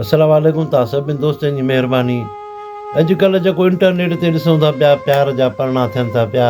السلام عليڪم توهان سڀني دوستن جي مهرباني اڄ ڪلهه جيڪو انٽرنيٽ تي ڏسون ٿا پيا پيار جا پرڻا ٿين ٿا پيا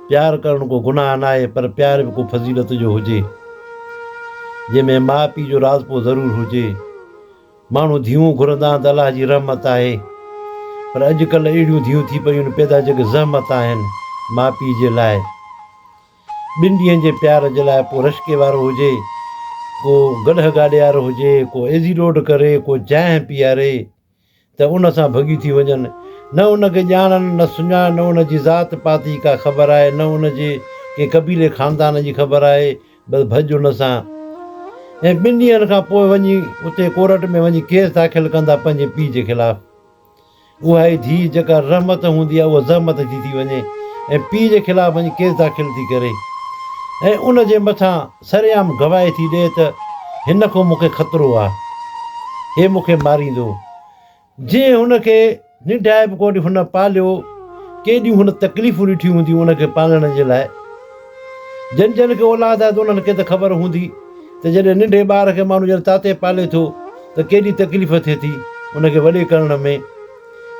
پيار ڪرڻ ڪو گناهه ناهي پر پيار به ڪو فضيلت جو هجي جنهن ۾ ماء پيء جو راضپو ضرور هجي ماڻهو ڌيئون گهرندا آهن ته الله جي رحمت آهي پر اڄ ڪلهه اهڙيون ڌيئون ٿي پيون آهن پيدا جيڪي زحمت آهن ماء پيء جي لاء ٻن ڏينهن جي پيار جي لاء ڪو رشڪي وارو هجي، ڪو گڏهه گاڏيار هجي، ڪو ايزي روڊ ڪري، ڪو جانهه پياري ته ان سان ڀڳي ٿي وڃن. نه ان کي ڄاڻن، نه سڃاڻن، نه ان جي ذات پات جي ڪا خبر آهي، نه ان جي ڪنهن قبيلي خاندان جي خبر آهي، بس ڀڄ ان سان. ۽ ٻن ڏينهن کان پوء وڃي اتي ڪورٽ ۾ وڃي ڪيس داخل ڪندا پنهنجي پيء جي خلاف. اها ئي ڌيء جيڪا رحمت هوندي آهي اها زحمت ٿي ٿي وڃي ۽ پيء جي خلاف وڃي ڪيس داخل ٿي ڪري ۽ ان جي مٿان سرعام گواهي ٿي ڏئي ته هن کان مونکي خطرو آهي هي مونکي ماريندو جي هن کي ننڊائي به ڪونهي هن پاليو ڪيڏيون هن تڪليفون ڏٺيون هونديون ان کي پالڻ جي لاء جن جن کي اولاد آهي ته انهن کي ته خبر هوندي ته جڏهن ننڍي ٻار کي ماڻهو ڄڻ تاتي پالي ٿو ته ڪيڏي تڪليف ٿئي ٿي، ان کي وڏي ڪرڻ ۾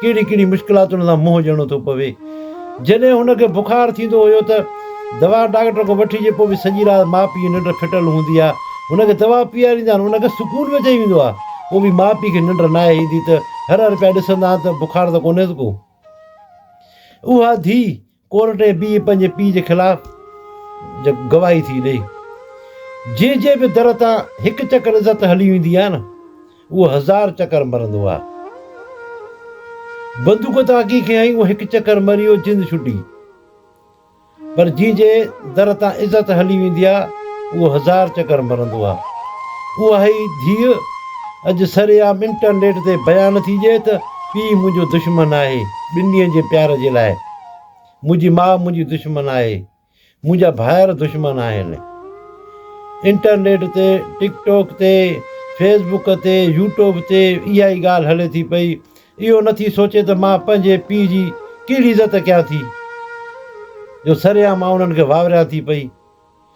ڪهڙي ڪهڙي مشڪلاتن سان منهن ڏيڻو ٿو پوي. جڏهن هن کي بخار ٿيندو هيو ته دوا ڊاڪٽر کان وٺي جي پوء به سڄي رات ماء پيء جي ننڊ ڦٽل هوندي آهي. هن کي دوا پيئاريندا آهن، ان کي سڪون به اچي ويندو آهي، پوء به ماء پيء کي ننڊ ناهي ايندي ته هر هر پيا ڏسندا آهن ته بخار ته ڪونهيس ڪو. اها ڌيء ڪورٽ ۾ بيهي پنهنجي پيء جي خلاف گواهي ٿي ڏئي. جنهن جي به در تان هڪ چڪر عزت هلي ويندي آهي نه اهو هزار چڪر مرندو آهي. بندوق تان اگهي کي هنئي اهو هڪ چڪر مريو جند ڇٽي. پر جنهن جي در تان عزت هلي ويندي آهي اهو هزار چڪر مرندو آهي. اهائي ڌيء اڄ سرعام انٽرنيٽ تي بيان ٿي ڏئي ته پيء منهنجو دشمن آهي ٻن ڏينهن جي پيار جي لاء. منهنجي ماء منهنجي دشمن آهي، منهنجا ڀائر دشمن آهن. انٽرنيٽ تي، ٽڪ ٽاڪ تي، فيس بوڪ تي، يوٽيوب تي اها ئي ڳالهه هلي ٿي پئي، اهو نه ٿي سوچي ته مان پنهنجي پيء جي ڪهڙي عزت ڪيان ٿي جو سرعام آئون انهن کي واوريان ٿي پئي.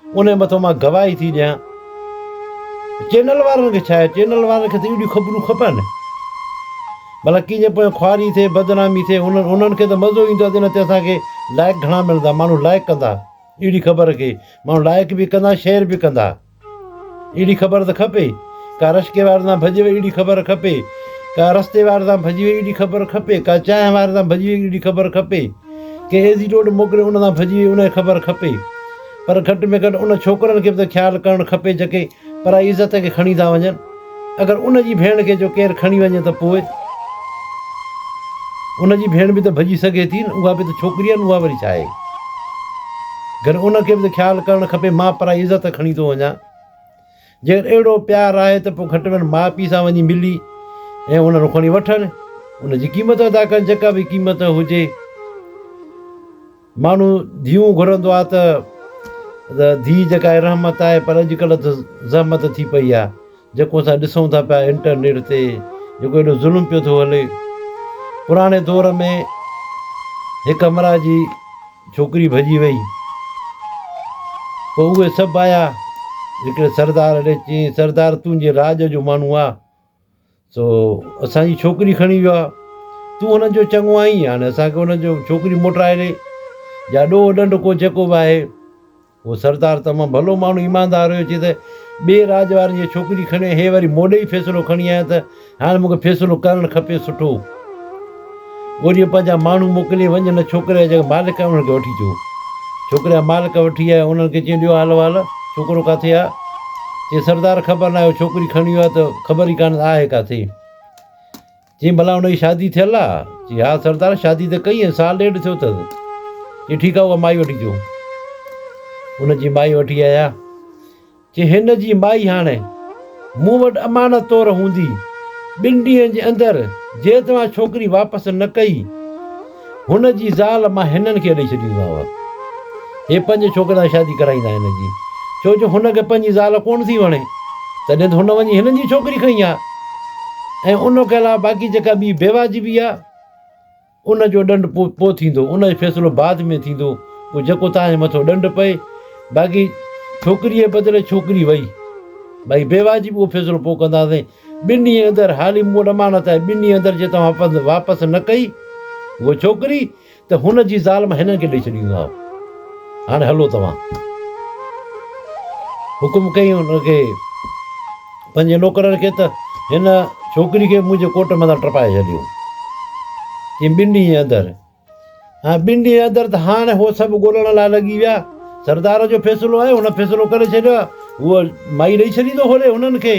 انهي مٿان مان گواهي ٿي ڏيان چينل وارن کي ڇا چينل وارن کي ته اهڙيون خبرون کپن ڀلا ڪنهن جي پويان خواري ٿئي بدنامي ٿئي انهن انهن کي ته مزو ايندو آهي تنهن تي اسان کي لائڪ گهڻا ملندا ماڻهو لائڪ ڪندا اهڙي خبر کي ماڻهو لائڪ به ڪندا شيئر به ڪندا اهڙي خبر ته کپي ڪا رشڪي وارن سان ڀڄي وئي اهڙي خبر کپي ڪا رستي وارن سان ڀڄي وئي اهڙي خبر کپي ڪا چانهه وارن سان ڀڄي وئي اهڙي خبر کپي ڪنهن ايزي ٽوٽ موڪلي ان تان ڀڄي وئي ان کي خبر کپي پر گهٽ ۾ گهٽ ان ڇوڪرن کي به ته خيال ڪرڻ کپي جيڪي پرائي عزت کي کڻي ٿا وڃن اگر ان جي ڀيڻ کي جو ڪير کڻي وڃي ته پوء ان جي ڀيڻ به ته ڀڄي سگهي ٿي نه اها به ته ڇوڪري آهي نه اها وري ڇا آهي گهر ان کي به ته خيال ڪرڻ کپي مان پرائي عزت کڻي ٿو وڃان. جيڪڏهن اهڙو پيار آهي ته پوء گهٽ ۾ گهٽ ماء پيء سان وڃي ملي ۽ انهن کان وٺن ان جي قيمت ادا ڪن جيڪا به قيمت هجي. ماڻهو ڌيئون گهرندو آهي ته ڌيء جيڪا آهي رحمت آهي پر اڄڪلهه ته زحمت ٿي پئي آهي جيڪو اسان ڏسون ٿا پيا انٽرنيٽ تي جيڪو ايڏو ظلم پيو ٿو هلي پراڻي دور ۾ هڪ همراهه جي ڇوڪري ڀڄي وئي. پوء اهي سڀ آيا. هڪڙي سردار اڏي چيائين، سردار تون جي راڄ جو ماڻهو آ، سو اسان جي ڇوڪري کڻي ويو آ. تون هنن جو چڱو آهين، هاڻي اسان کي هنن جو ڇوڪري موٽرائي ڏي، يا ڏوهه ڏنڊ ڪو جيڪو به آهي. اهو سردار تمام ڀلو ماڻهو ايماندار هيو چي ته ٻئي راڄ وارن جي ڇوڪري کڻي ۽ هي وري موڏي ئي فيصلو کڻي آيا ته هاڻ مون کي فيصلو ڪرڻ کپي سٺو ڳولي پنهنجا ماڻهو موڪلي وڃ هن ڇوڪري جا جيڪي مالڪ آهن انهن کي وٺي چو ڇوڪري جا مالڪ وٺي آيا انهن کي چيائين ڏيو حال وال ڇوڪرو ڪاٿي آ چي سردار خبر ناهي اهو ڇوڪري کڻي ويو آ ته خبر ئي ڪانه آهي ڪاٿي. چيائين، ڀلا هن جي شادي ٿيل آ؟ چيائين، ها سردار شادي ته ڪئي ۽ سال ڏيڍ ٿيو اٿس. چيائين، ٺيڪ آ اها مائي وٺي اچو. ان جي مائي وٺي آيا. چيائين، هن جي مائي هاڻ مون وٽ امانت طور هوندي. ٻن ڏينهن جي اندر جي توهان ڇوڪري واپس نه ڪئي. هن جي زال مان هنن کي ڏئي ڇڏيندومانو. هي پنهنجي ڇوڪري سان شادي ڪرائيندا هن جي. ڇو جو هن کي پنهنجي زال ڪونه ٿي وڻي. تڏهن ته هن وڃي هنن جي ڇوڪري کنئي آ. ۽ ان کان علاوه باقي جيڪا ٻي بيواجبي آ ان جو ڏنڊ پو پو ٿيندو. ان جو فيصلو بعد ۾ ٿيندو. پو جيڪو توهان جي مٿو ڏنڊ پئي. باقي ڇوڪريء بدري ڇوڪري وئي. باقي بيواجبي اهو فيصلو پو ڪنداسين. ٻن ڏينهن اندر هالي مون وٽ امانت آهي، ٻن ڏينهن اندر جي توهان پنڌ واپس نه ڪئي هوء ڇوڪري ته هن جي زال مان هنن کي ڏئي ڇڏيندومانء. هاڻي هلو توهان. حڪم ڪيائين هن کي پنهنجي نوڪرن کي ته هن ڇوڪري کي منهنجي ڪوٽ مٿان ٽپائي ڇڏيو. چيائين ٻن ڏينهن جي اندر ٻن ڏينهن اندر ته هاڻ هو سڀ ڳولڻ لاء لڳي ويا. سردار جو فيصلو آهي، هن فيصلو ڪري ڇڏيو آهي. هوء مائي ڏئي ڇڏيندو هوڏي هنن کي.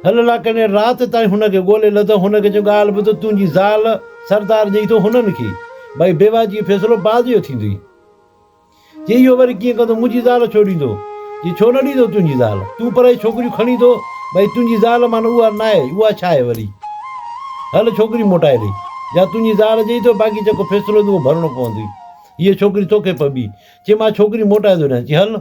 هل لاکاڻيء رات تائين هن کي ڳولي لڌو. هن کي چيو، ڳالهه ٻڌ، تنهنجي زال سردار ڏئي ٿو هنن کي. ٻائي بيواجي فيصلو بعد جو ٿيندئي. جي اهو وري ڪيئن ڪندو منهنجي زال ڇو ڏيندو جي ڇو نه ڏيندو تنهنجي زال تون پرائي ڇوڪريون کڻي ٿو ڀئي تنهنجي زال مان نه اها ناهي اها ڇا آهي وري هل ڇوڪري موٽائي ڏي يا تنهنجي زال جئي ٿو باقي جيڪو فيصلو هوندو اهو ڀرڻو پوندوئي هيء ڇوڪري توکي پبي چي مان ڇوڪري موٽائي ٿو ڏيان چي هل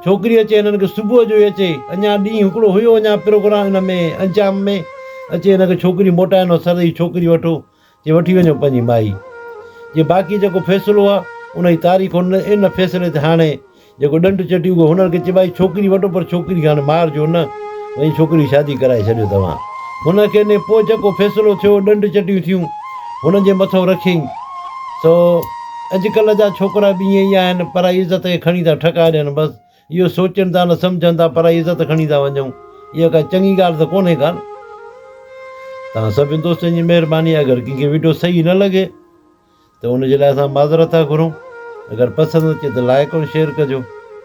ڇوڪري اچي هنن کي صبح جو ئي اچي اڃا ڏينهن هڪڙو هيو اڃا پروگرام ان ۾ انجام ۾ اچي هن کي ڇوڪري موٽائي نو سر هي ڇوڪري وٺو جي وٺي وڃو پنهنجي مائي جي باقي جيڪو فيصلو آ ان جي تاريخ ان ان فيصلي تي هاڻي جيڪو ڏنڊ چٽي اهو هنر کي چئبو آ جي ڇوڪري وٺو پر ڇوڪري کي هاڻي مارجو نه وڃي ڇوڪري جي شادي ڪرائي ڇڏيو توهان هن کي ني پوء جيڪو فيصلو ٿيو ڏنڊ چٽيون ٿيون هن جي مٿو رکين سو اڄڪلهه جا ڇوڪرا به ائين ئي آهن پرائي عزت کي کڻي ٿا ٺڪا ڏين بس. اهو سوچين ٿا نه سمجهن ٿا پرائي عزت کڻي ٿا وڃون اها ڪا چڱي ڳالهه ته ڪونهي ڪا نه توهان سڀني دوستن جي مهرباني آهي اگر ڪنهن کي وڊيو صحيح نه لڳي ته ان جي لاء اسان معذرت ٿا گهرون اگر پسند اچي ته لائڪ ۽ شيئر ڪجو.